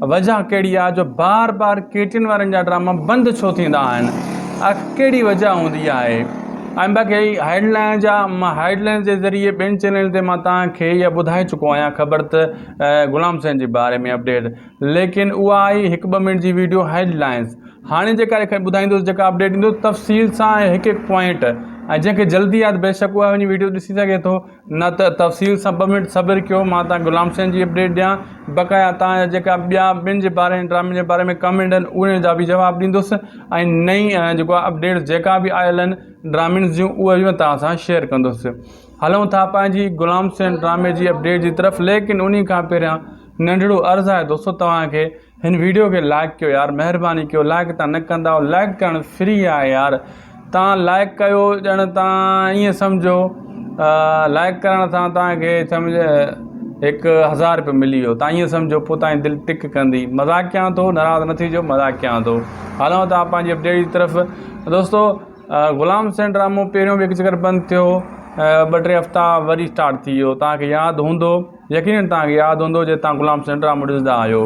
وجه ڪهڙي آ جو بار بار ڪي ٽين وارن جا ڊراما بند ڇو ٿيندا آهن آخر ڪهڙي وجه هوندي آهي ۽ باقي هيڊ لائن جا مان هيڊ لائن جي ذريعي ٻين چينلن تي مان توهان کي اها ٻڌائي چڪو آهيان خبر ته غلام حسين جي باري ۾ اپڊيٽ ليڪن اها آئي هڪ ٻه منٽ جي ويڊيو هيڊ لائنز هاڻي جيڪا کي ٻڌائيندوس جيڪا اپڊيٽ ڏيندوس تفصيل سان هڪ هڪ پوائنٽ ۽ جنهن کي جلدي آ ته بيشڪ اها وڃي ويڊيو ڏسي سگهي ٿو نه ته تفصيل سان ٻه منٽ صبر ڪيو مان تان غلام حسين جي اپڊيٽ ڏيان بقايا تان جا جيڪا ٻيا ٻن جي باري ۽ ڊرامي جي باري ۾ ڪمينٽ آهن اهي جا به جواب ڏيندس ۽ نئين جيڪو آهي اپڊيٽس جيڪا به آيل آهن ڊرامين جون اهي به تان سان شيئر ڪندس هلون ٿا پنهنجي غلام حسين ڊرامي جي اپڊيٽ جي طرف ليڪن انهي کان پهريان ننڍڙو عرض آهي دوستو توهان کي هن ويڊيو کي لائق ڪيو يار مهرباني ڪيو لائق تان نه ڪنداو لائق ڪرڻ فري آهي يار تان لائق ڪيو ڄڻ تان ايئن سمجهو لائق ڪرڻ سان تان کي سمجهه هڪ هزار روپيو ملي ويو تان ايئن سمجهو پو تان دل ٽڪ ڪندي مذاق ڪيان ٿو ناراض نه ٿي جو مذاق ڪيان ٿو هلون ٿا پنهنجي اپڊيٽ جي طرف دوستو غلام سين ڊرامو پهريون به هڪ چڪر بند ٿيو ٻه ٽي هفتا وري اسٽارٽ ٿي ويو تان کي ياد هوندو يقينن توهان کي ياد هوندو جو توهان غلام حسين ڊرامو ڏسندا آهيو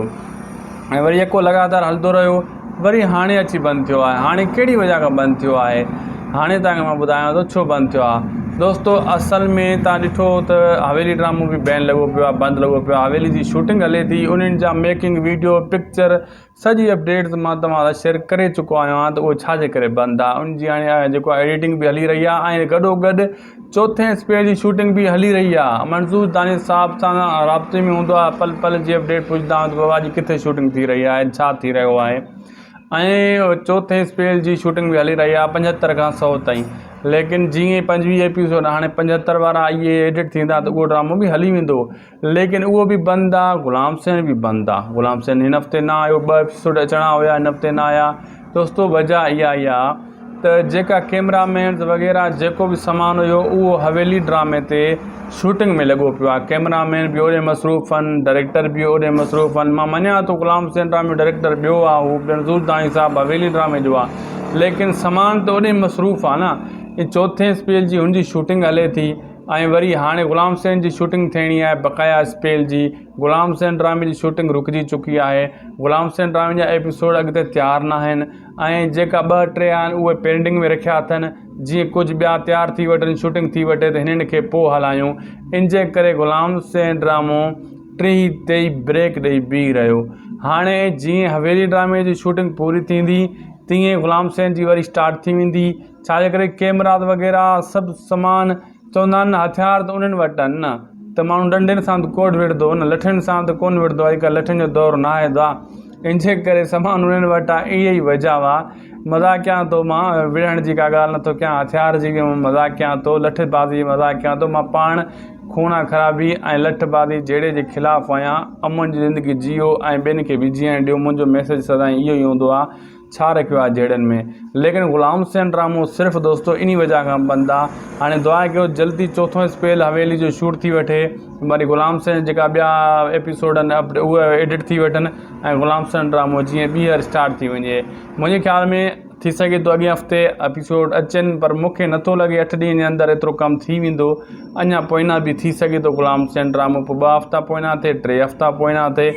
۽ وري يڪو لڳاتار هلندو رهيو وري هاڻي اچي بند ٿيو آهي هاڻي ڪهڙي وجه کان بند ٿيو آهي هاڻي توهان کي مان ٻڌايان ٿو ڇو بند ٿيو آهي دوستو اصل ۾ توهان ڏٺو ته حويلي ڊرامو به بين لڳو پيو آهي بند لڳو پيو آهي حويلي جي شوٽنگ هلي ٿي انهن جا ميڪنگ ويڊيو پڪچر سڄي اپڊيٽس مان توهان سان شيئر ڪري چڪو آهيان ته اهو ڇا جي ڪري بند آهي ان جي هاڻي جيڪو آهي ايڊيٽنگ به هلي رهي آهي ۽ گڏو گڏ چوٿين اسپيڊ جي شوٽنگ به هلي رهي آهي منظور دانش صاحب سان رابطي ۾ هوندو آهي پل پل جي اپڊيٽ پڇندا آهيان ته بابا اڄ ڪٿي شوٽنگ ٿي رهي آهي ڇا ٿي رهيو آهي ۽ چوٿين اسپيڊ جي شوٽنگ به هلي رهي آهي پنجهتر کان سو تائين ليڪن جيئن پنجويهه ايپيسوڊ هاڻي پنجهتر وارا اهي ايڊيٽ ٿيندا ته اهو ڊرامو به هلي ويندو ليڪن اهو به بند آ غلام حسين به بند آ غلام حسين هن هفتي نه آيو ٻه ايپسوڊ اچڻا هيا هن هفتي نه آيا دوستو وجه اها اها ته جيڪا ڪيمرا مينز وغيره جيڪو به سامان هيو اهو حويلي ڊرامي تي شوٽنگ ۾ لڳو پيو آهي ڪيمرا مين به اوڏي مصروف آهن ڊائريڪٽر به اوڏي مصروف آهن مان مڃان ٿو غلام حسين ڊرامي ڊائريڪٽر ٻيو آ هو بينظور داني صاحب حويلي ڊرامي جو آ ليڪن سامان ته اوڏي مصروف آ نه چوٿين اسپيل جي هن جي شوٽنگ هلي ٿي ۽ وري هاڻي غلام حسين جي شوٽنگ ٿيڻي آهي بقايا اسپيل جي غلام حسين ڊرامي جي شوٽنگ رڪجي چڪي آهي غلام حسين ڊرامي جا ايپيسوڊ اڳتي تيار ناهن ۽ جيڪا ٻه ٽي آهن اهي پينڊنگ ۾ رکيا اٿن جيئن ڪجهه ٻيا تيار ٿي وٺن شوٽنگ ٿي وٺي ته هنن کي پوء هلايون انجي ڪري غلام حسين ڊرامو ٽيهي تي بريڪ ڏئي بيهي رهيو هاڻي جيئن حويلي ڊرامي جي شوٽنگ پوري ٿيندي تيئن غلام حسين جي وري اسٽارٽ ٿي ويندي ڇاجي ڪري ڪيمرات وغيره سڀ سمان چوندا آهن نه هٿيار ته انهن وٽ آهن نه ته ماڻهو ڏنڊين سان ته ڪوڙ وڙهندو نه لٺين سان ته ڪونه وڙهندو اڄ ڪلهه لٺين جو دور نه آهي دا ان جي ڪري سمان انهن وٽ آهي اها ئي وجهه آهي مذاق ڪيان ٿو مان وڙهڻ جي ڪا ڳالهه نٿو ڪيان هٿيار جي مذاق ڪيان ٿو لٺ بازي مذاق ڪيان ٿو مان پاڻ خونان خرابي ۽ لٺ بازي جهيڙي جي خلاف آهيان امن جي زندگي جيئو ۽ ٻين کي به جيئڻ ڏيو منهنجو ميسيج سدائين اهو ئي هوندو آهي ڇا رکيو آ جهيڙن ۾. ليڪن غلام حسين ڊرامو صرف دوستو انهي وجه کان بند آ هاڻي دعا ڪيو جلدي چوٿون اسپيل حويلي جو شوٽ ٿي وٺي وري غلام حسين جا جيڪا ٻيا ايپيسوڊ آهن اهي ايڊٽ ٿي وٺن ۽ غلام حسين ڊرامو جيئن ٻيهر اسٽارٽ ٿي وڃي منهنجي خيال ۾ ٿي سگهي ٿو اڳئين هفتي ايپيسوڊ اچن پر مون کي نٿو لڳي اٺ ڏينهن جي اندر ايترو ڪم ٿي ويندو اڃا پوئينا به ٿي سگهي ٿو غلام حسين ڊرامو پوء ٻه هفتا پوئينا ٿئي ٽي هفتا پوئينا ٿئي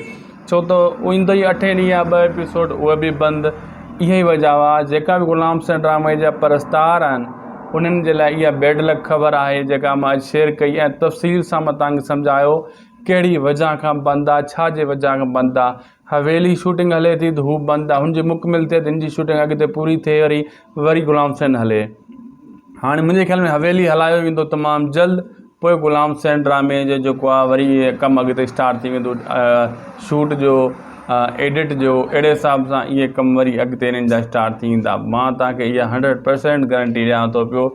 ڇو ته ايندو ئي اٺين ڏينهن آ ٻه ايپيسوڊ اهي به بند اها ئي وجهه آ جيڪا به غلام حسين ڊرامي جا پرستار آهن انهن جي لاء اها بيڊ لڪ خبر آهي جيڪا مان اڄ شيئر ڪئي ۽ تفصيل سان مان توهان کي سمجهايو ڪهڙي وجهه کان بند آ ڇا جي وجهه کان بند آ حويلي شوٽنگ هلي ٿي ته هو بند آ هن جي مڪمل ٿئي ته هن جي شوٽنگ اڳتي پوري ٿئي وري وري غلام حسين هلي. هاڻي منهنجي خيال ۾ حويلي هلايو ويندو تمام جلد پوء غلام حسين ڊرامي جو جيڪو آهي وري ڪم اڳتي اسٽارٽ ٿي ويندو شوٽ جو ايڊٽ جو اهڙي حساب سان اهي ڪم وري اڳتي انهن جا اسٽارٽ ٿي ويندا مان توهان کي اها هنڊريڊ پرسينٽ گرنٽي ڏيان ٿو پيو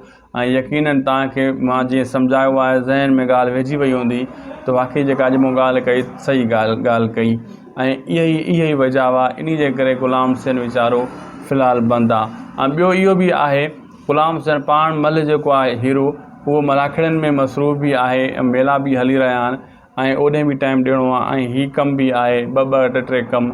۽ يقينن توهان کي مان جيئن سمجهايو آهي ذهن ۾ ڳالهه ويهجي وئي هوندي ته واقعي جيڪا اڄ مون ڳالهه ڪئي صحيح ڳالهه ڪئي ۽ اهي ئي وجهه هئا انهي جي ڪري غلام حسين ويچارو في الحال بند آهي ۽ ٻيو اهو به آهي غلام حسين پاڻ ملهه جيڪو آهي هيرو اهو ملاکڙين ۾ مصروف به آهي ميلا به هلي رهيا آهن ۽ اوڏي به ٽائيم ڏيڻو آ ۽ هي ڪم به آهي ٻه ٻه ٽي ٽي ڪم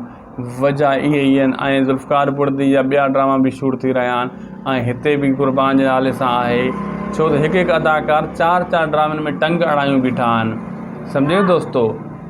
وجهه اهي ئي آهن ۽ ذوالفقار بڙدي جا ٻيا ڊراما به شوٽ ٿي رهيا آهن ۽ هتي به قربان جي نالي سان آهي ڇو ته هڪ هڪ اداڪار چار چار ڊرامن ۾ ٽنگ اڙايون بيٺا آهن سمجهيو دوستو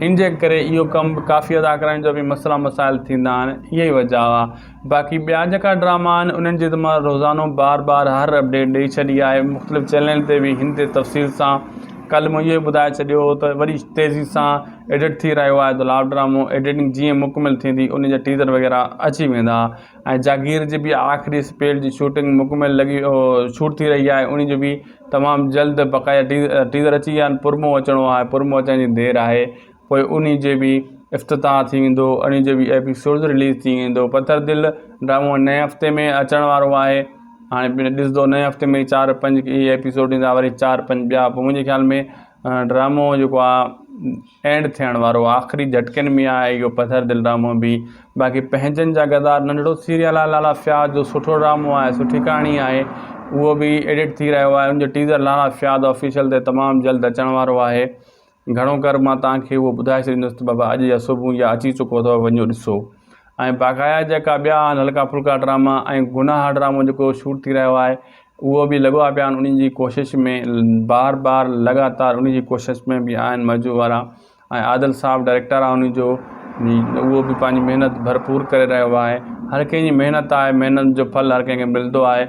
ان جي ڪري اهو ڪم ڪافي اداڪارن جو به مسئلا مسائل ٿيندا آهن اهي ئي وجهه آ باقي ٻيا جيڪا ڊراما آهن انهن جي ته مان روزانو بار بار هر اپڊيٽ ڏئي ڇڏي آهي مختلف چينل تي به هن تي تفصيل سان ڪلهه مون اهو ٻڌائي ڇڏيو هو ته وري تيزي سان ايڊٽ ٿي رهيو آهي ته لاو ڊرامو ايڊيٽنگ جيئن مڪمل ٿيندي ان جا ٽيزر وغيره اچي ويندا ۽ جاگير جي به آخري اسپيڊ جي شوٽنگ مڪمل لڳي شوٽ ٿي رهي آهي ان جو به تمام جلد بقايا ٽيزر اچي ويا آهن پرمو اچڻو آهي پرمو اچڻ جي دير آهي پوء انهي جي به افتتاح ٿي ويندو انهي جو به ايپيسوڊز رليز ٿي ويندو پٿر دل ڊرامو نئين هفتي ۾ اچڻ وارو آهي هاڻي پڻ ڏسندو نئين هفتي ۾ چار پنج هي ايپيسوڊ ايندا وري چار پنج ٻيا پوء منهنجي خيال ۾ ڊرامو جيڪو آهي اينڊ ٿيڻ وارو آهي آخري جهٽڪن ۾ آهي اهو پٿر دل ڊرامو به باقي پنهنجن جا غدار ننڍڙو سيريل آهي لالا فياض جو سٺو ڊرامو آهي سٺي ڪهاڻي آهي اهو به ايڊٽ ٿي رهيو آهي ان جو ٽيزر لالا فياض آفيشل تي تمام جلد اچڻ وارو آهي گهڻو ڪر مان توهان کي اهو ٻڌائي ڇڏيندس ته بابا اڄ يا صبح يا اچي چڪو اٿو وڃو ڏسو ۽ باقايا جيڪا ٻيا آهن هلڪا ڦلڪا ڊراما ۽ گناهه ڊرامو جيڪو شوٽ ٿي رهيو آهي اهو به لڳو آ پيا آهن انهن جي ڪوشش ۾ بار بار لڳاتار انهن جي ڪوشش ۾ به آهن مزو وارا ۽ عادل صاحب ڊائريڪٽر آهي انهن جو اهو به پنهنجي محنت ڀرپور ڪري رهيو آهي هر ڪنهن جي محنت آهي محنت جو ڦل هر ڪنهن کي ملندو آهي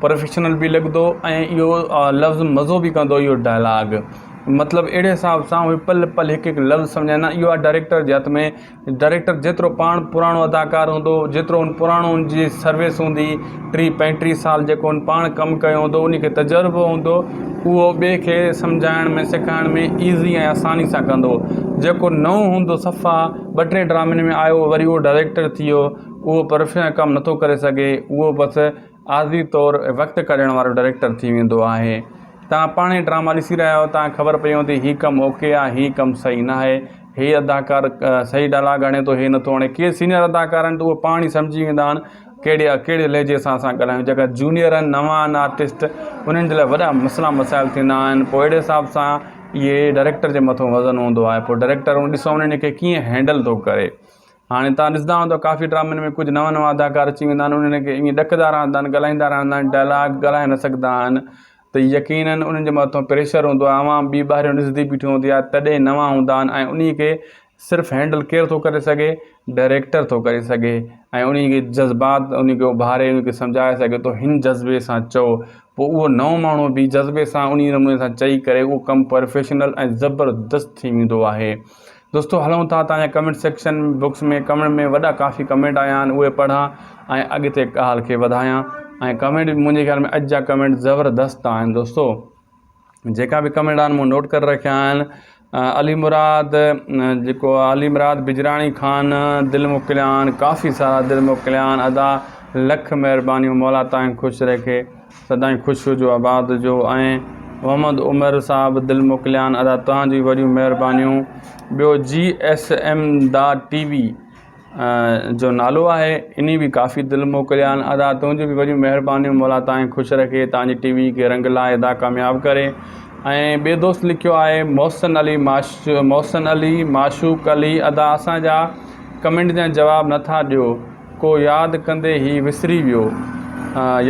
پروفيشنل به لڳندو ۽ اهو لفظ مزو به ڪندو اهو ڊائلاگ مطلب اهڙي حساب سان اهي پل پل هڪ هڪ لفظ سمجهائيندا اهو آهي ڊائريڪٽر جي هٿ ۾ ڊائريڪٽر جيترو پاڻ پراڻو اداڪار هوندو جيترو ان پراڻو ان جي سروس هوندي ٽي پنجٽيهه سال جيڪو ان پاڻ ڪم ڪيو هوندو ان کي تجربو هوندو اهو ٻئي کي سمجهائڻ ۾ سيکارڻ ۾ ايزي ۽ آساني سان ڪندو جيڪو نئون هوندو صفا ٻه ٽي ڊرامن ۾ آيو وري اهو ڊائريڪٽر ٿي ويو اهو پروفيشنل ڪم نٿو ڪري سگهي اهو بس عارضي طور وقت ڪاڍڻ وارو ڊائريڪٽر ٿي ويندو آهي. توهان پاڻهي ڊراما ڏسي رهيا آهيو توهان کي خبر پئي هوندي هي ڪم اوڪي آهي هي ڪم صحيح ناهي هي اداڪار صحيح ڊائلاگ هڻي ٿو هي نٿو هڻي ڪي سينيئر اداڪار آهن ته اهي پاڻ ئي سمجهي ويندا آهن ڪهڙي ڪهڙي لهجي سان اسان ڳالهايون جيڪا جونيئر آهن نوان آهن آرٽسٽ انهن جي لاء وڏا مسئلا مسائل ٿيندا آهن پوء اهڙي حساب سان اهي ڊائريڪٽر جي مٿو وزن هوندو آهي پوء ڊائريڪٽر ڏسو انهن کي ڪيئن هينڊل ٿو ڪري هاڻي توهان ڏسندا هوندؤ ته ڪافي ڊرامن ۾ ڪجهه نوان نوان اداڪار اچي ويندا آهن انهن کي ائين ڏڪندا رهندا آهن ڳالهائيندا رهندا آهن ڊائلاگ ڳالهائي نه سگهندا آهن ته يقينن انهن جي مٿان پريشر هوندو آهي عوام ٻي ٻاهريون ڏسندي بيٺي هوندي آهي تڏهن نوان هوندا آهن ۽ انهي کي صرف هينڊل ڪير ٿو ڪري سگهي ڊائريڪٽر ٿو ڪري سگهي ۽ انهي کي جذبات انهي کي اڀاري انهي کي سمجهائي سگهي ٿو هن جذبي سان چئو پوء اهو نئون ماڻهو به جذبي سان انهي نموني سان چئي ڪري اهو ڪم پروفيشنل ۽ زبردست ٿي ويندو آهي دوستو هلون ٿا تنهنجي ڪمينٽ سيڪشن بڪس ۾ ڪمينٽ ۾ وڏا ڪافي ڪمينٽ آيا آهن اهي پڙهان ۽ اڳتي ڳالهه کي وڌايان ۽ ڪمينٽ منهنجي خيال ۾ اڄ جا ڪمينٽ زبردست آهن دوستو جيڪا به ڪمينٽ آهن مون نوٽ ڪري رکيا آهن علي مراد جيڪو علي مراد بجراڻي خان دل موڪليان ڪافي سارا دل موڪليان ادا لک مهربانيون مولا تائين خوش رکي سدائين خوش هجو آباد هجو ۽ محمد عمر صاحب دل موڪليان ادا توهان جي وڏيون مهربانيون ٻيو G S M the T V جو نالو آهي اني به ڪافي دل موڪليان ادا تنهنجي به وڏيون مهربانيون مولا تائين خوش رکي تان جي ٽي وي کي رنگ لاء ادا ڪامياب ڪري ۽ ٻي دوست لکيو آهي محسن علي ماش محسن علي معشوق علي ادا اسان جا ڪمينٽ جا جواب نٿا ڏيو ڪو ياد ڪندي هي وسري ويو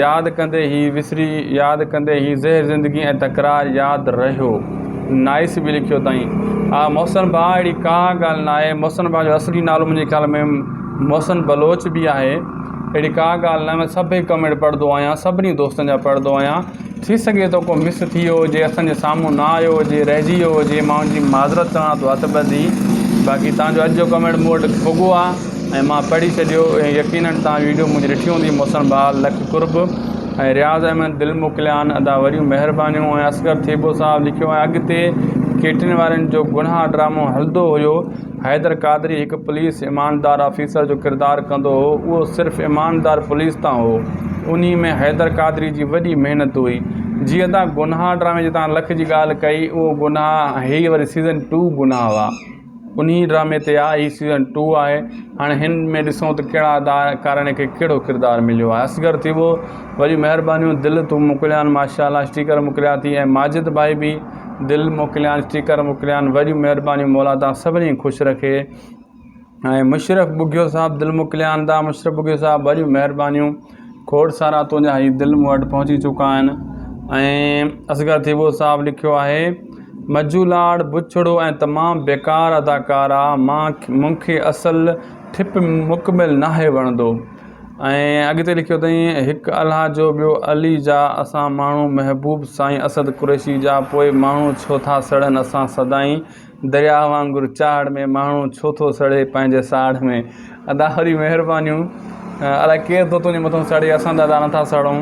ياد ڪندي هي وسري ياد ڪندي هي زهر زندگي ۽ تڪرار ياد رهيو نائس به لکيو اٿائين آ محسن ڀاء اهڙي ڪا ڳالهه ناهي محسن ڀاء جو اصلي نالو منهنجي خيال ۾ محسن بلوچ به آهي اهڙي ڪا ڳالهه ناهي مان سڀئي ڪمينٽ پڙهندو آهيان سڀني دوستن جا پڙهندو آهيان ٿي سگهي ٿو ڪو مس ٿي ويو هجي اسان جي سامهون نه آيو هجي رهجي ويو هجي مان ان جي معذرت چوان ٿو هٿ ٻڌي باقي توهان جو اڄ جو ڪمينٽ مون وٽ پڳو آهي ۽ مان پڙهي ڇڏيو ۽ يقينن توهان ويڊيو منهنجي ڏٺي هوندي محسن بحال لک قرب ۽ رياض احمد دل موڪليان ادا وڏيون مهربانيون ۽ اصغر ٿيٻو صاحب لکيو آهي اڳتي ڪيٽرين وارن جو گناهه ڊرامو هلندو هيو حيدر قادري هڪ پوليس ايماندار آفيسر جو ڪردار ڪندو هو اهو صرف ايماندار پوليس تان هو انهي ۾ حيدر قادري جي وڏي محنت هئي جيئن تان گناهه ڊرامي جي تان لک جي ڳالهه ڪئي اهو گناهه هي وري سيزن ٽو گناهه هئا انهي ڊرامي تي آ هي سيزن ٽو آهي هاڻي هن ۾ ڏسون ته ڪهڙا ادا ڪارڻي کي ڪهڙو ڪردار مليو آهي اصغر ٿيٻو وڏي مهربانيون دل تون موڪليان ماشاء الله اسٽيڪر موڪليا ٿي ۽ ماجد ڀائي به دل موڪليان اسٽيڪر موڪليان وڏيون مهربانيون مولا تان سڀني خوش رکي ۽ مشرف ٻگهيو صاحب دل موڪليان تان مشرف ٻگهيو صاحب وڏيون مهربانيون کوڙ سارا تنهنجا هي دل مون وٽ پهچي چڪا آهن ۽ اصغر ٿيٻو صاحب لکيو آهي مجو لاڙ بڇڙو ۽ تمام بيڪار اداڪار آ مان مون کي اصل ٺپ مڪمل ناهي وڻندو ۽ اڳتي لکيو اٿئين، هڪ الله جو ٻيو علي جا اسان ماڻهو محبوب سائين اسد قريشي جا پوء ماڻهو ڇو ٿا سڙن اسان سدائين درياهه وانگر چاڙهه ۾ ماڻهو ڇو ٿو سڙي پنهنجي ساڙهه ۾. ادا وري مهربانيون الاء ڪير ٿو تنهنجي مٿو سڙي اسان ته ادا نٿا سڙون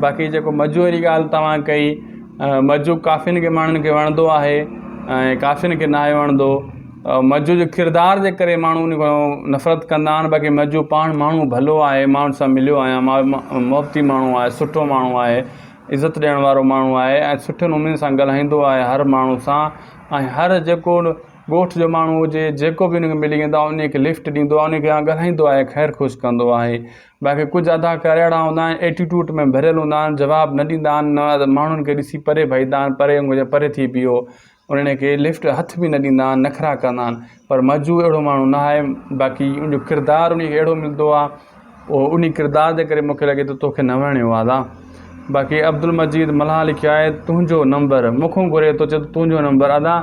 باقي جيڪو مجو جي ڳالهه توهان ڪئي مجو ڪافين کي ماڻهن کي وڻندو آهي ۽ ڪافين کي ناهي وڻندو مجو جي ڪردار جي ڪري ماڻهو ان کان نفرت ڪندا آهن باقي مجو پاڻ ماڻهو ڀلو آهي ماڻهن سان مليو آهيان محبتي ماڻهو آهي سٺو ماڻهو آهي عزت ڏيڻ وارو ماڻهو آهي ۽ سٺي نموني سان ڳالهائيندو آهي هر ماڻهو سان ۽ هر جيڪو ڳوٺ جو ماڻهو هجي جيڪو بي ان کي ملي ويندو آهي ان کي لفٽ ڏيندو آهي ان کي ڳالهائيندو آهي خير خوش ڪندو آهي باقي ڪجهه اداڪار اهڙا هوندا آهن ايٽيٽوٽ ۾ ڀريل هوندا آهن جواب نه ڏيندا آهن نه ماڻهن کي ڏسي پري ڀڄندا آهن پري هونجو پري ٿي بيهو انهن کي لفٽ هٿ به نه ڏيندا آهن نخرا ڪندا آهن پر مجو اهڙو ماڻهو نه آهي باقي ان جو ڪردار ان کي اهڙو ملندو آهي او ان ڪردار جي ڪري مونکي لڳي ٿو توکي نه وڻيو آهي ادا باقي عبدالمجيد ملاح لکيو آهي تنهنجو نمبر مونکون گهري ٿو چئي ٿو تنهنجو نمبر ادا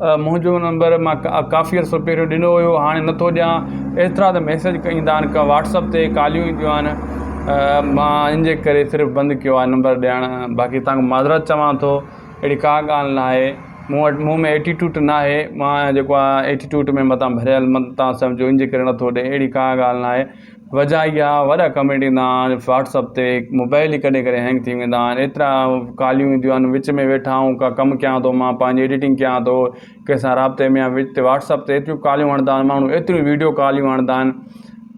منهنجو نمبر مان ڪافي عرصو پهريون ڏنو هيو هاڻي نٿو ڏيان ايترا ته ميسج ايندا آهن ڪا واٽسپ تي ڪاليون اينديون آهن مان ان جي ڪري صرف بند ڪيو آهي نمبر ڏيڻ باقي تنهنکان معذرت چوان ٿو اهڙي ڪا ڳالهه ناهي مون وٽ مون ۾ ايٽيٽوٽ ناهي مان جيڪو آهي ايٽيٽوٽ ۾ متان ڀريل مت تان سمجهو ان جي ڪري نٿو ڏي اهڙي ڪا ڳالهه ناهي وجهه اهي آهي وڏا ڪمينٽ ايندا آهن واٽسپ تي موبائل ئي ڪڏهن ڪڏهن هينگ ٿي ويندا آهن ايترا ڪاليون اينديون آهن وچ ۾ ويٺا آهون ڪا ڪم ڪيان ٿو مان پنهنجي ايڊيٽنگ ڪيان ٿو ڪنهن سان رابطي ۾ آهيان تي واٽس اپ تي ايتريون ڪاليون آڻدا آهن ماڻهو ايتريون ويڊيو ڪاليون آڻدا آهن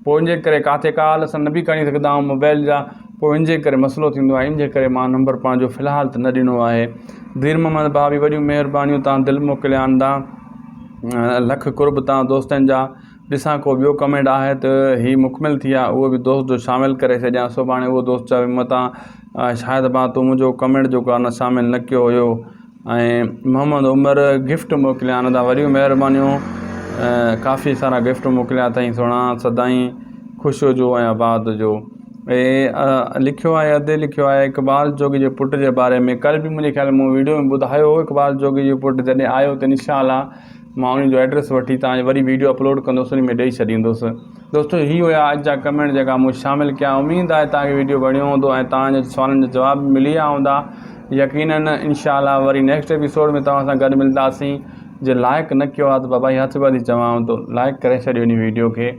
پوء ان جي ڪري ڪاٿي ڪال اسان نه بي کڻي سگهندا آهيون موبائل جا پوء ان جي ڪري مسئلو ٿيندو آهي ان جي ڪري مان نمبر پنهنجو في الحال ته نه ڏنو آهي دير محمد ڀاء بي وڏيون مهربانيون تان دل موڪلي آندا لک قرب تان دوستن جا ڏسان ڪو ٻيو ڪمينٽ آهي ته هي مڪمل ٿي آهي اهو به دوست جو شامل ڪري ڇڏيان سڀاڻي اهو دوست چوي متان شايد ڀان تون منهنجو ڪمينٽ جو ڪارنر شامل نه ڪيو هيو ۽ محمد عمر گفٽ موڪليا آھن ادا وڏيون مھربانيون ڪافي سارا گفٽ موڪليا اٿئي سھڻا سدائين خوش ھجو ۽ آباد ھجو ھي لکيو آھي ادي لکيو آھي اقبال جوڳي جي پٽ جي باري ۾ ڪل به منھنجي خيال مون ويڊيو ۾ ٻڌايو ھو اقبال جوڳي جو پٽ جڏھن آيو ته ان شاء الله مان ان جو ايڊريس وٺي تاجو وري ويڊيو اپلوڊ ڪندوس ان ۾ ڏئي ڇڏيندوس دوستو هي هيا اڄ جا ڪمينٽ جيڪا مون شامل ڪيا اميد آهي توهان کي ويڊيو وڻيو هوندو ۽ توهان جي سوالن جا جواب به ملي ويا هوندا يقينن انشاء الله وري نيڪسٽ ايپيسوڊ ۾ توهان سان گڏ ملداسين جي لائڪ نه ڪيو آهي ته بابا هي هٿ ٻڌي چوان ٿو لائڪ ڪري ڇڏيو هن ويڊيو کي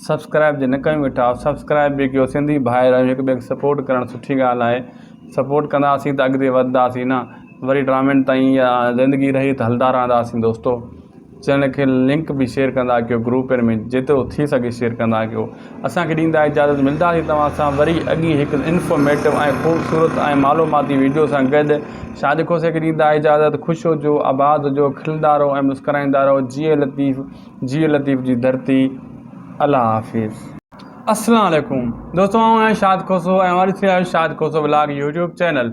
سبسڪرائب جي نه ڪيو ويٺا سبسڪرائب به ڪيو سنڌي ڀائر آهيون هڪ ٻئي کي سپورٽ ڪرڻ سٺي ڳالهه آهي سپورٽ ڪنداسين ته اڳتي وڌداسين نه وري ٽرامين تائين يا زندگي رهي ته هلدا رهنداسين دوستو چئنل کي لنڪ به شيئر ڪندا ڪيو گروپن ۾ جيترو ٿي سگهي شيئر ڪندا ڪيو اسان کي ڏيندا اجازت ملداسي توهان سان وري اڳي هڪ انفارميٽو ۽ خوبصورت ۽ معلوماتي ويڊيو سان گڏ شاهد کوسي کي ڏيندا اجازت خوش هجو آباد هجو کلندا رهو ۽ مسڪرائيندا رهو جيئي لطيف جيئي لطيف جي ڌرتي الله حافظ. السلام عليڪم دوستو آئون آهيان شاد کوسو ۽ اوهان ڏسي رهيا آهيو Shad Khoso vlog YouTube channel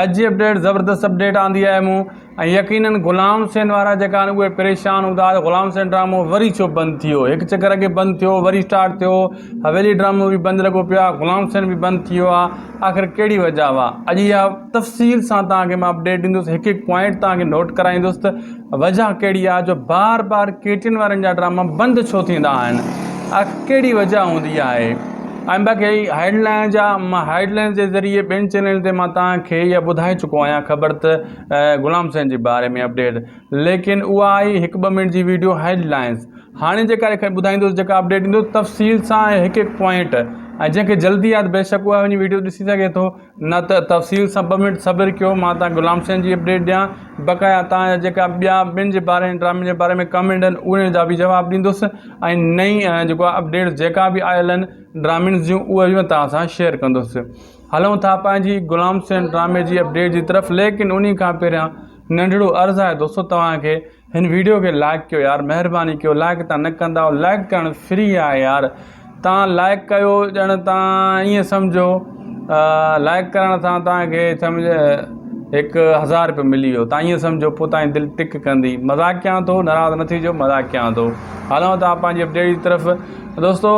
اڄ جي اپڊيٽ زبردست اپڊيٽ آندي آهي مون ۽ يقينن غلام حسين وارا جيڪا آهن اهي پريشان هوندا ته غلام حسين ڊرامو وري ڇو بند ٿي ويو هڪ چڪر اڳي بند ٿيو وري اسٽارٽ ٿيو حويلي ڊرامو به بند لڳو پيو آهي غلام حسين به بند ٿي ويو آهي آخر ڪهڙي وجهه هئا اڄ اها تفصيل سان توهان کي مان اپڊيٽ ڏيندس هڪ هڪ پوائنٽ توهان کي نوٽ ڪرائيندس ته وجهه ڪهڙي آهي جو بار بار ڪي ٽين وارن جا ڊراما بند ڇو ٿيندا آهن آخر ڪهڙي وجهه هوندي آهي ۽ باقي هيڊ لائن جا مان هيڊ لائن جي ذريعي ٻين چينلن تي مان توهان کي اها ٻڌائي چڪو آهيان خبر ته غلام حسين جي باري ۾ اپڊيٽ ليڪن اها آئي هڪ ٻه منٽ جي ويڊيو هيڊ لائنس هاڻي جيڪا لکي ٻڌائيندوس جيڪا اپڊيٽ ڏيندوس تفصيل سان ۽ هڪ هڪ پوائنٽ ۽ جنهن کي جلدي آهي بيشڪ اها وڃي ويڊيو ڏسي سگهي ٿو نه ته تفصيل سان ٻه منٽ صبر ڪيو مان تان غلام حسين جي اپڊيٽ ڏيان بقايا تان جا جيڪا ٻيا ٻن جي باري ۾ ڊرامي جي باري ۾ ڪمينٽ آهن انهن جا به جواب ڏيندوس ۽ نئين جيڪو اپڊيٽ جيڪا به آيل آهن ڊرامين جون اهي به تان سان شيئر ڪندوس هلون ٿا پنهنجي غلام حسين ڊرامي جي اپڊيٽ جي طرف ليڪن انهي کان پهريان ننڍڙو عرض آهي دوستو توهان کي هن ويڊيو کي لائڪ ڪيو يار مهرباني ڪيو لائڪ تان نه ڪنداو لائڪ ڪرڻ فري آهي يار تان لائڪ ڪيو ڄڻ تان ايئن سمجهو لائڪ ڪرڻ سان توهان کي سمجهه هڪ هزار روپيو ملي ويو تان ايئن سمجهو پوء توهان جي دل ٽڪ ڪندي مذاق ڪيان ٿو ناراض نه ٿي جو مذاق ڪيان ٿو هلون ٿا پنهنجي اپڊيٽ جي طرف دوستو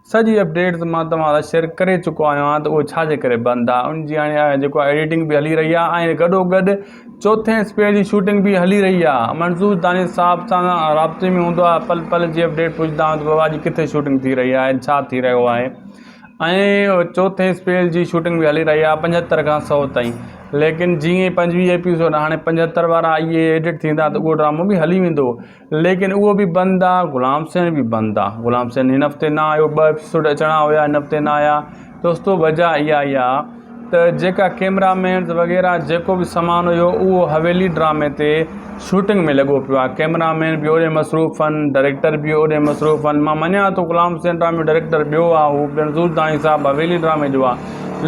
سڄي اپڊيٽس مان توهان سان شيئر ڪري چڪو آهيان ته اهو ڇا جي ڪري بند آهي ان جي هاڻي جيڪو آهي ايڊيٽنگ به هلي رهي آهي ۽ گڏو گڏ چوٿين اسپيڊ جي شوٽنگ به هلي رهي آهي منظور دانش صاحب سان رابطي ۾ هوندو آهي پل پل جي اپڊيٽ پڇندا آهيون ته بابا اڄ ڪٿي شوٽنگ ٿي رهي آهي ڇا ٿي رهيو آهي ۽ چوٿين اسپيڊ جي شوٽنگ به هلي رهي آهي پنجهتر کان سو تائين ليڪن جيئن پنجويهه ايپيسوڊ هاڻي پنجهتر وارا اهي ايڊيٽ ٿيندا ته اهو ڊرامو به هلي ويندو ليڪن اهو به بند آ غلام حسين به بند آ غلام حسين هن هفتي نه آيو ٻه ايپسوڊ اچڻا هيا هن هفتي نه آيا دوستو وجه اها اها ته جيڪا ڪيمرا مينز وغيره جيڪو به سامان هيو اهو حويلي ڊرامي تي شوٽنگ ۾ لڳو پيو آ ڪيمرا مين به اوڏي مصروف ان ڊريڪٽر به اوڏي مصروف ان مان مڃان ٿو غلام حسين ڊرامي جو ڊريڪٽر ٻيو آ هو پڻ زور داني صاحب حويلي ڊرامي جو آ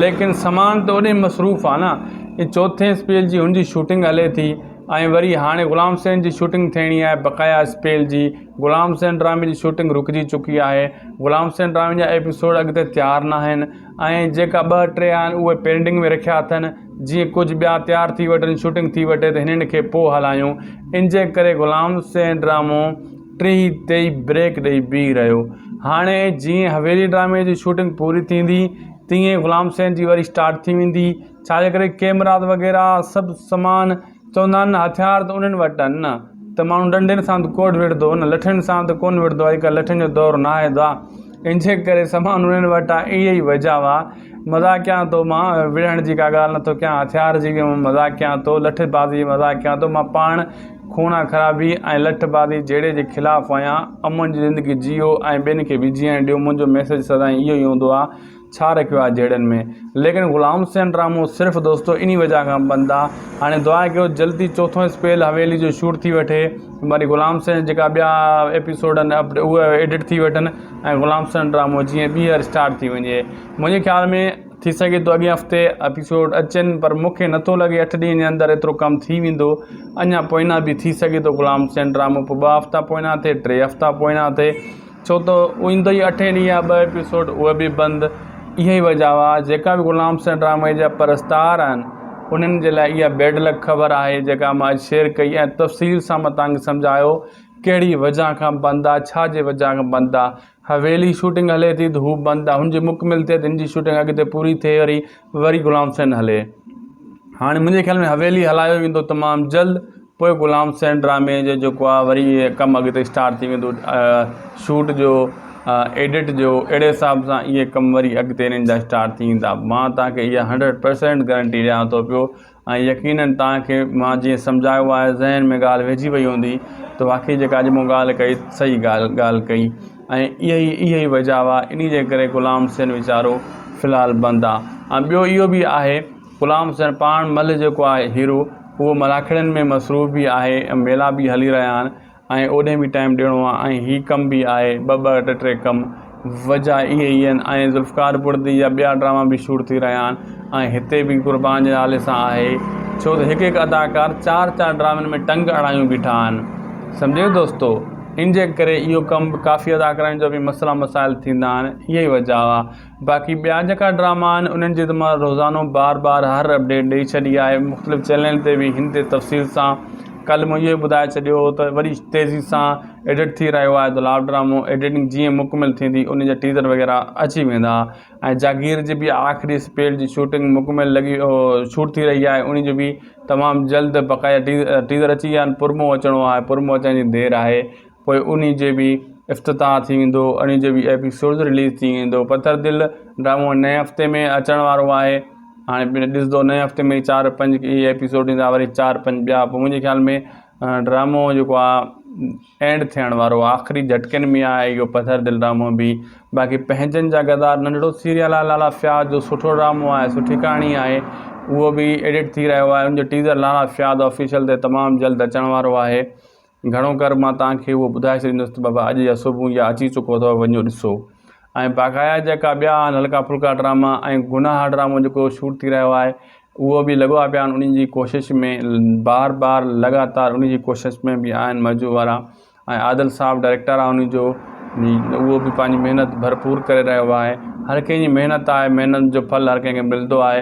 ليڪن سامان ته اوڏي مصروف آ نه چوٿين سپيل جي هن جي شوٽنگ هلي ٿي ۽ وري هاڻي غلام حسين جي شوٽنگ ٿيڻي آهي بقايا اسپيل جي غلام حسين ڊرامي جي شوٽنگ رڪجي چڪي آهي غلام حسين ڊرامي جا ايپيسوڊ اڳتي تيار ناهن ۽ جيڪا ٻه ٽي آهن اهي پينڊنگ ۾ رکيا اٿن جيئن ڪجهه ٻيا تيار ٿي وٺن شوٽنگ ٿي وٺي ته هنن کي پوء هلايون انجي ڪري غلام حسين ڊرامو ٽيهي تي بريڪ ڏئي بيهي رهيو هاڻي جيئن حويلي ڊرامي جي شوٽنگ پوري ٿيندي تيئن غلام حسين جي وري اسٽارٽ ٿي ويندي ڇاجي ڪري ڪيمرات وغيره سڀ سامان چوندا آهن نه هٿيار ته انهن وٽ آهن نه ته ماڻهو ڏنڊين سان به ڪوڏ وڙهندو هو نه لٺين سان ته ڪونه وڙهندو آهي اڄڪلهه لٺين جو دور ناهي ادا ان جي ڪري سامان انهن وٽ آهي اهي ئي وجهه هئا مذاق ڪيان ٿو مان وڙهڻ جي ڪا ڳالهه نٿو ڪيان هٿيار جي به مذاق ڪيان ٿو لٺ بازي جي مذاق ڪيان ٿو مان پاڻ خونان خرابي ۽ لٺ بازي جهيڙي جي خلاف آهيان امن جي زندگي جيئو ۽ ٻين کي به جيئڻ ڏيو منهنجو ميسيج سدائين اهو ئي هوندو آهي ڇا رکيو آهي جهيڙن ۾. ليڪن غلام حسين رامو صرف دوستو انهي وجهه کان بند آ هاڻي دعا ڪيو جلدي چوٿون اسپيل حويلي جو شوٽ ٿي وٺي وري غلام حسين جا جيڪا ٻيا ايپيسوڊ آهن اهي ايڊٽ ٿي وٺن ۽ غلام حسين رامو جيئن ٻيهر اسٽارٽ ٿي وڃي منهنجي خيال ۾ ٿي سگهي ٿو اڳئين هفتي ايپيسوڊ اچن پر مون کي نٿو لڳي اٺ ڏينهن جي اندر ايترو ڪم ٿي ويندو اڃا پوئينا به ٿي سگهي ٿو غلام حسين رامو پوء ٻه هفتا پوئينا ٿئي ٽي هفتا پوئينا ٿئي ڇو ته ايندو ئي اٺين ڏينهن آ ٻه ايپيسوڊ اهي به بند اها ئي وجهه آ جيڪا به غلام حسين ڊرامي جا پرستار آهن انهن جي لاء اها بيڊ لڪ خبر آهي جيڪا مان اڄ شيئر ڪئي ۽ تفصيل سان مان توهان کي سمجهايو ڪهڙي وجهه کان بند آ ڇا جي وجهه کان بند آ حويلي شوٽنگ هلي ٿي ته هو بند آ هن جي مڪمل ٿئي ته هن جي شوٽنگ اڳتي پوري ٿئي وري وري غلام حسين هلي هاڻي منهنجي خيال ۾ حويلي هلايو ويندو تمام جلد. پوء غلام حسين ڊرامي جو جيڪو آ وري ڪم اڳتي اسٽارٽ ٿي ويندو شوٽ جو ايڊٽ جو اهڙي حساب سان اهي ڪم وري اڳتي انهن جا اسٽارٽ ٿي ويندا مان توهان کي اها هنڊريڊ پرسينٽ گرنٽي ڏيان ٿو پيو ۽ يقينن توهان کي مان جيئن سمجهايو آهي ذهن ۾ ڳالهه ويهجي وئي هوندي ته واقعي جيڪا اڄ مون ڳالهه ڪئي صحيح ڳالهه ڳالهه ڪئي ۽ اهي ئي اهي ئي وجهه هئا انهي جي ڪري غلام حسين ويچارو في الحال بند آ ۽ ٻيو اهو به آهي غلام حسين پاڻ ملهه جيڪو آهي هيرو اهو ملاکڙين ۾ مصروف به آهي ۽ ميلا به هلي رهيا آهن ۽ اوڏهين به ٽائيم ڏيڻو آهي ۽ هي ڪم به آهي ٻه ٻه ٽي ٽي ڪم وجهه اهي ئي آهن ۽ ذوالفقار بڙدي جا ٻيا ڊراما به شوٽ ٿي رهيا آهن ۽ هتي به قربان جي نالي سان آهي ڇو ته هڪ هڪ اداڪار چار چار ڊرامن ۾ ٽنگ اڙايون بيٺا آهن سمجهيو دوستو ان جي ڪري اهو ڪم به ڪافي اداڪارن جو به مسئلا مسائل ٿيندا آهن اهي ئي وجهه آهي باقي ٻيا جيڪا ڊراما آهن انهن جي ته مان روزانو بار بار هر اپڊيٽ ڏئي ڇڏي آهي مختلف چينل تي به هن تي تفصيل سان ڪلهه مون اهو ٻڌائي ڇڏيو هو ته وري تيزي سان ايڊٽ ٿي رهيو آهي ته لاو ڊرامو ايڊيٽنگ جيئن مڪمل ٿيندي ان جا ٽيزر وغيره اچي ويندا ۽ جاگير جي به آخري اسپيڊ جي شوٽنگ مڪمل لڳي شوٽ ٿي رهي آهي ان جو به تمام جلد بقايا ٽيزر اچي ويا آهن پرمو اچڻو آهي پرمو اچڻ جي دير آهي پوء انهي جي به افتتاح ٿي ويندو انهي جي به ايپيسوڊز رليز ٿي ويندو پٿر دل ڊرامو نئين هفتي ۾ اچڻ وارو آهي هاڻي پڻ ڏسندو نئين هفتي ۾ چار پنج اهي ايپيسوڊ ايندا وري چار پنج ٻيا پوء منهنجي خيال ۾ ڊرامو جيڪو آهي اينڊ ٿيڻ وارو آهي آخري جهٽڪن ۾ آهي اهو پٿر دل ڊرامو به باقي پنهنجن جا غدار ننڍڙو سيريل آهي لالا فياض جو سٺو ڊرامو آهي سٺي ڪهاڻي آهي اهو به ايڊٽ ٿي رهيو آهي ان جو ٽيزر لالا فياض آفيشل تي تمام جلد اچڻ وارو آهي گهڻو ڪر مان توهان کي اهو ٻڌائي ڇڏيندس ته بابا اڄ يا صبح يا اچي چڪو اٿو وڃو ڏسو ۽ باقايا جيڪا ٻيا آهن هلڪا ڦلڪا ڊراما ۽ گناهه ڊرامو جيڪو شوٽ ٿي رهيو آهي اهو به لڳو آ پيا آهن انهن جي ڪوشش ۾ بار بار لڳاتار انهن جي ڪوشش ۾ به آهن مجو وارا ۽ عادل صاحب ڊائريڪٽر آهي انهن جو اهو به پنهنجي محنت ڀرپور ڪري رهيو آهي هر ڪنهن جي محنت آهي محنت جو ڦل هر ڪنهن کي ملندو آهي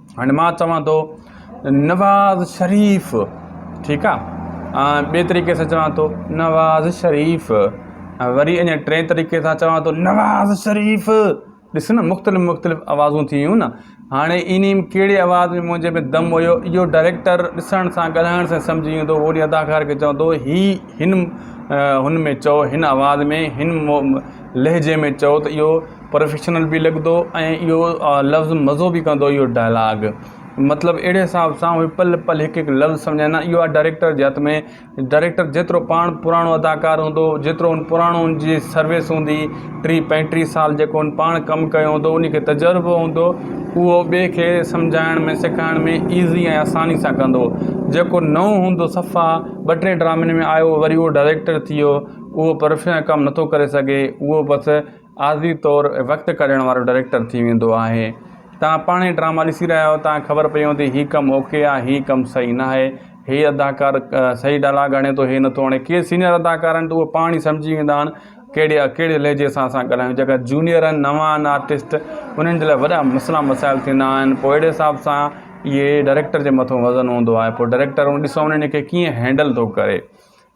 هاڻي مان چوان ٿو نواز شريف ٺيڪ آ ۽ ٻي طريقي سان چوان ٿو نواز شريف ۽ وري اڃا ٽئين طريقي سان چوان ٿو نواز شريف ڏس نه مختلف مختلف آوازون ٿي ويون نه هاڻي انهي ۾ ڪهڙي آواز ۾ منهنجي ۾ دم هيو اهو ڊائريڪٽر ڏسڻ سان ڳالهائڻ سان سمجهي ويندو هو وري اداڪار کي چوان ٿو هي هن هن ۾ چئو هن آواز ۾ هن لهجي ۾ چئو ته اهو پروفيشنل به لڳندو ۽ اهو لفظ مزو به ڪندو اهو ڊائلاگ مطلب اهڙي حساب سان اهي پل پل هڪ هڪ لفظ سمجهائيندا اهو آهي ڊائريڪٽر جي هٿ ۾ ڊائريڪٽر جيترو پاڻ پراڻو اداڪار هوندو جيترو ان پراڻو ان جي سروس هوندي ٽي پنجٽيهه سال جيڪو ان پاڻ ڪم ڪيو هوندو ان کي تجربو هوندو اهو ٻئي کي سمجهائڻ ۾ سيکارڻ ۾ ايزي ۽ آساني سان ڪندو جيڪو نئون هوندو صفا ٻه ٽي ڊرامن ۾ آيو وري اهو ڊائريڪٽر ٿي ويو اهو پروفيشنل ڪم نٿو ڪري سگهي اهو بس عارضي طور وقت ڪاڍڻ وارو ڊائريڪٽر ٿي ويندو آهي. توهان پاڻهي ڊراما ڏسي رهيا آهيو توهان کي خبر پئي هوندي هي ڪم اوڪي آهي هي ڪم صحيح ناهي هي اداڪار صحيح ڊائلاگ هڻي ٿو هي نٿو هڻي ڪي سينيئر اداڪار آهن ته اهي پاڻ ئي سمجهي ويندا آهن ڪهڙي ڪهڙي لهجي سان اسان ڳالهايون جيڪا جونيئر آهن نوان آهن آرٽسٽ انهن جي لاء وڏا مسئلا مسائل ٿيندا آهن پوء اهڙي حساب سان اهي ڊائريڪٽر جي مٿو وزن هوندو آهي پوء ڊائريڪٽر ڏسو انهن کي ڪيئن هينڊل ٿو ڪري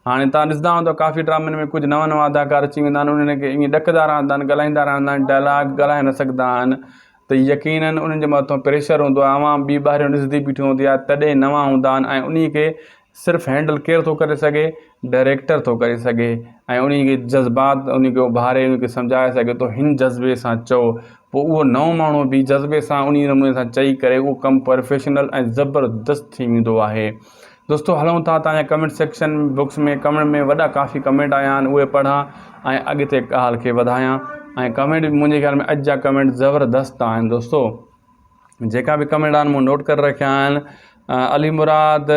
هاڻي توهان ڏسندا هوندؤ ته ڪافي ڊرامن ۾ ڪجهه نوان نوان اداڪار اچي ويندا آهن انهن کي ائين ڏڪندا رهندا آهن ڳالهائيندا رهندا آهن ڊائلاگ ڳالهائي نه سگهندا آهن ته يقينن انهن جي مٿان پريشر هوندو آهي عوام ٻي ٻاهريون ڏسندي بيٺي هوندي آهي تڏهن نوان هوندا آهن ۽ انهي کي صرف هينڊل ڪير ٿو ڪري سگهي ڊائريڪٽر ٿو ڪري سگهي ۽ انهي جي جذبات انهي کي اڀاري انهي کي سمجهائي سگهي ٿو هن جذبي سان چئو پوء اهو نئون ماڻهو به جذبي سان انهي نموني سان چئي ڪري اهو ڪم پرفيشنل ۽ زبردست ٿي ويندو آهي دوستو هلون ٿا تنهنجا ڪمينٽ سيڪشن بڪس ۾ ڪمينٽ ۾ وڏا ڪافي ڪمينٽ آيا آهن اهي پڙهان ۽ اڳتي ڳالهه کي وڌايان ۽ ڪمينٽ منهنجي خيال ۾ اڄ جا ڪمينٽ زبردست آهن دوستو جيڪا به ڪمينٽ آهن مون نوٽ ڪري رکيا آهن علي مراد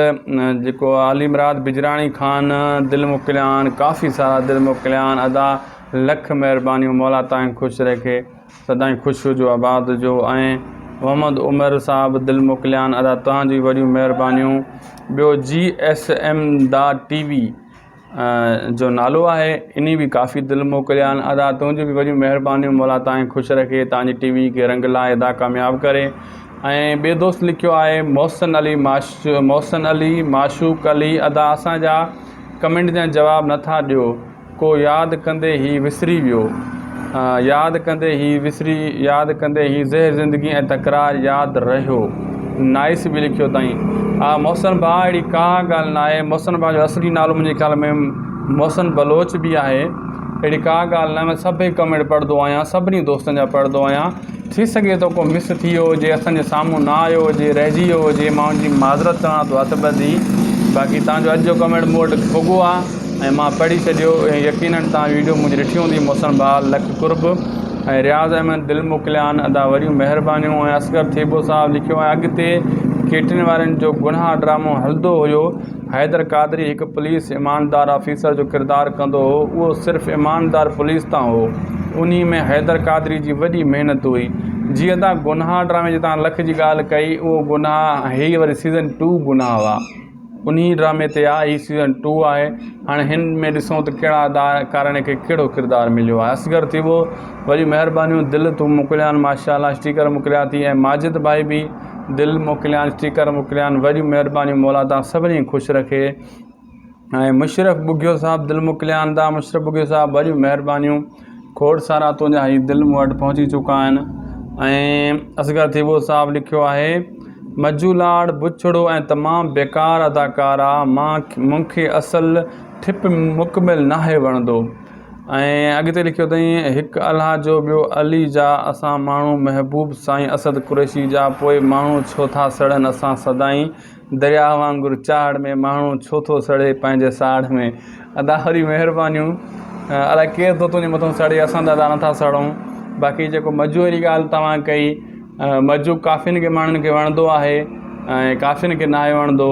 جيڪو علي مراد بجراڻي خان دل موڪليان ڪافي سارا دل موڪليان ادا لک مهربانيون مولا تائين خوش رکي سدائين خوش هجو آباد هجو ۽ محمد عمر صاحب دل موڪليان ادا توهان جي وڏيون مهربانيون ٻيو G S M the T V جو نالو آهي اني به ڪافي دل موڪليان ادا تنهنجي به وڏيون مهربانيون مولا تائين خوش رکي تان جي ٽي وي کي رنگ لائي ادا ڪامياب ڪري ۽ ٻي دوست لکيو آهي محسن علي ماش محسن علي معشوق علي ادا اسان جا ڪمينٽ جا جواب نٿا ڏيو ڪو ياد ڪندي هي وسري ويو ياد ڪندي هي وسري ياد ڪندي هي زهر زندگي ۽ تڪرار ياد رهيو نائس به لکيو اٿائين آ محسن ڀاء اهڙي ڪا ڳالهه ناهي محسن ڀاء جو اصلي نالو منهنجي خيال ۾ محسن بلوچ به آهي اهڙي ڪا ڳالهه ناهي مان سڀئي ڪمينٽ پڙهندو آهيان سڀني دوستن جا پڙهندو آهيان ٿي سگهي ٿو ڪو مس ٿي ويو هجي اسان جي سامهون نه آيو هجي رهجي ويو هجي مان ان جي معذرت چوان ٿو هٿ ٻڌي باقي توهان جو اڄ جو ڪمينٽ مون وٽ پڳو آهي ۽ مان پڙهي ڇڏيو ۽ يقينن توهان ويڊيو منهنجي ڏٺي هوندي محسن بحال لک قرب ۽ رياض احمد دل موڪليان ادا وڏيون مهربانيون ۽ اصغر ٿيٻو صاحب لکيو آهي اڳتي ڪيٽرين وارن جو گناهه ڊرامو هلندو هيو حيدر قادري هڪ پوليس ايماندار آفيسر جو ڪردار ڪندو هو، اهو صرف ايماندار پوليس تان هو. انهي ۾ حيدر قادري جي وڏي محنت هئي. جيئن تان گناهه ڊرامي جي تان لک جي ڳالهه ڪئي اهو گناهه هي وري سيزن ٽو گناهه هئا انهي ڊرامي تي آ هي سيزن ٽو آهي هاڻي هن ۾ ڏسون ته ڪهڙا ادا ڪارڻي کي ڪهڙو ڪردار مليو آهي اصغر ٿيٻو وڏيون مهربانيون دل تون موڪليان ماشاء الله اسٽيڪر موڪليا ٿي ۽ ماجد ڀائي به دل موڪليان اسٽيڪر موڪليان وڏيون مھربانيون مولا تان سڀني خوش رکي ۽ مشرف ٻگھيو صاحب دل موڪليان تان مشرف ٻگھيو صاحب وڏيون مھربانيون کوڙ سارا تنھنجا ھي دل مون وٽ پھچي چڪا آھن ۽ اصغر ٿيٻو صاحب لکيو آھي مجھو لاڙ بڇڙو ۽ تمام بيڪار اداڪار آ مان مون کي اصل ٺپ مڪمل ناھي وڻندو ۽ اڳتي لکيو اٿئين، هڪ الله جو ٻيو علي جا اسان ماڻهو محبوب سائين اسد قريشي جا پوء ماڻهو ڇو ٿا سڙن اسان سدائين درياهه وانگر چاڙهه ۾ ماڻهو ڇو ٿو سڙي پنهنجي ساڙهه ۾ ادا وري مهربانيون الاء ڪير ٿو تنهنجي مٿو سڙي اسان ته ادا نه ٿا سڙون باقي جيڪو مجو واري ڳالهه توهان ڪئي مجو ڪافين کي ماڻهن کي وڻندو آهي ۽ ڪافين کي ناهي وڻندو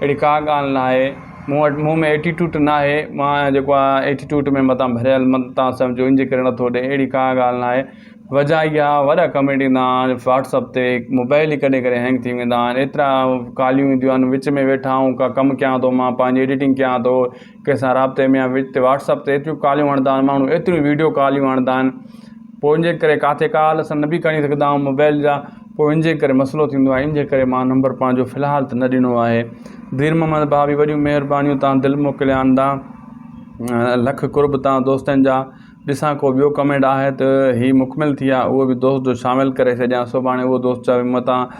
اهڙي ڪا ڳالهه ناهي مون وٽ مون ۾ ايٽيٽوٽ ناهي مان جيڪو آهيان ايٽيٽوٽ ۾ متان ڀريل مت تان سمجهو ان جي ڪري نٿو ڏئي اهڙي ڪا ڳالهه ناهي وجهه اهي آهي وڏا ڪمينٽ ايندا آهن واٽس اپ تي موبائل ئي ڪڏهن ڪڏهن هينگ ٿي ويندا آهن ايترا ڪاليون اينديون آهن وچ ۾ ويٺا آهون ڪا ڪم ڪيان ٿو مان پنهنجي ايڊيٽنگ ڪيان ٿو ڪنهن سان رابطي ۾ آهيان وچ تي واٽس اپ تي ايتريون ڪاليون هڻندا آهن ماڻهو ايتريون ويڊيو ڪاليون هڻندا آهن پوء ان جي ڪري ڪاٿي ڪال اسان نه بي کڻي سگهندا آهيون موبائل جا پوء ان جي ڪري مسئلو ٿيندو آهي ان جي ڪري مان نمبر پنهنجو في الحال ته نه ڏنو آهي دير محمد ڀاء بي وڏيون مهربانيون تان دل موڪلي آندا لک قرب تان دوستن جا ڏسان ڪو ٻيو ڪمينٽ آهي ته هي مڪمل ٿي آهي اهو به دوست جو شامل ڪري ڇڏيان سڀاڻي اهو دوست چوي متان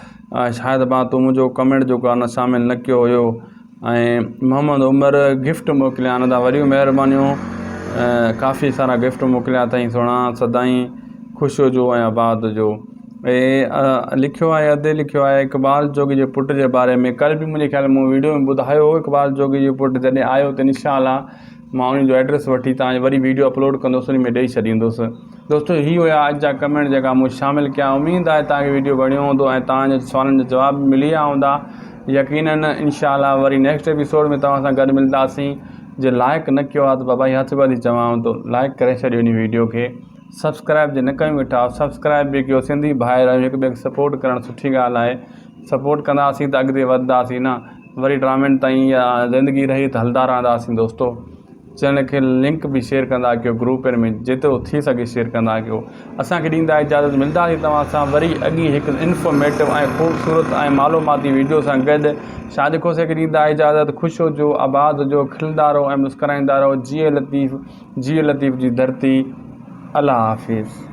شاهد ڀا تون منهنجو ڪمينٽ جو ڪارنر شامل نه ڪيو هيو ۽ محمد عمر گفٽ موڪليا آھن ادا وڏيون مھربانيون ڪافي سارا گفٽ موڪليا اٿائين سھڻا سدائين خوش ھجو ۽ آباد ھجو ھي لکيو آھي ادي لکيو آھي اقبال جوڳي جي پٽ جي باري ۾ ڪل به منھنجي خيال مون ويڊيو ۾ ٻڌايو ھو اقبال جوڳي جو پٽ جڏھن آيو ته ان شاء الله مان ان جو ايڊريس وٺي تان جو وري ويڊيو اپلوڊ ڪندس ان ۾ ڏئي ڇڏيندس دوستو هي هيا اڄ جا ڪمينٽ جيڪا مون شامل ڪيا اميد آهي توهان کي ويڊيو وڻيو هوندو ۽ توهان جي سوالن جا جواب به ملي ويا هوندا يقينن انشاءالله وري نيڪسٽ ايپيسوڊ ۾ توهان سان گڏ ملنداسين جي لائق نه ڪيو آهي ته بابا هي هٿ ٻڌي چوان ٿو لائق ڪري ڇڏيو هن ويڊيو کي سبسڪرائب جي نه ڪيو ويٺا سبسڪرائب به ڪيو سنڌي ڀائر آهيون هڪ ٻئي کي سپورٽ ڪرڻ سٺي ڳالهه آهي سپورٽ ڪنداسين ته اڳتي وڌنداسين نه وري ٽرامينٽ تائين يا زندگي رهي ته هلدا رهنداسين دوستو چينل کي لنڪ به شيئر ڪندا ڪيو گروپن ۾ جيترو ٿي سگهي شيئر ڪندا ڪيو اسان کي ڏيندا اجازت ملداسي توهان سان وري اڳي هڪ انفارميٽو ۽ خوبصورت ۽ معلوماتي ويڊيو سان گڏ شاهد کوسي کي ڏيندا اجازت خوش هجو آباد هجو کلندا رهو ۽ مسڪرائيندا رهو جيئي لطيف جيئي لطيف جي ڌرتي الله حافظ.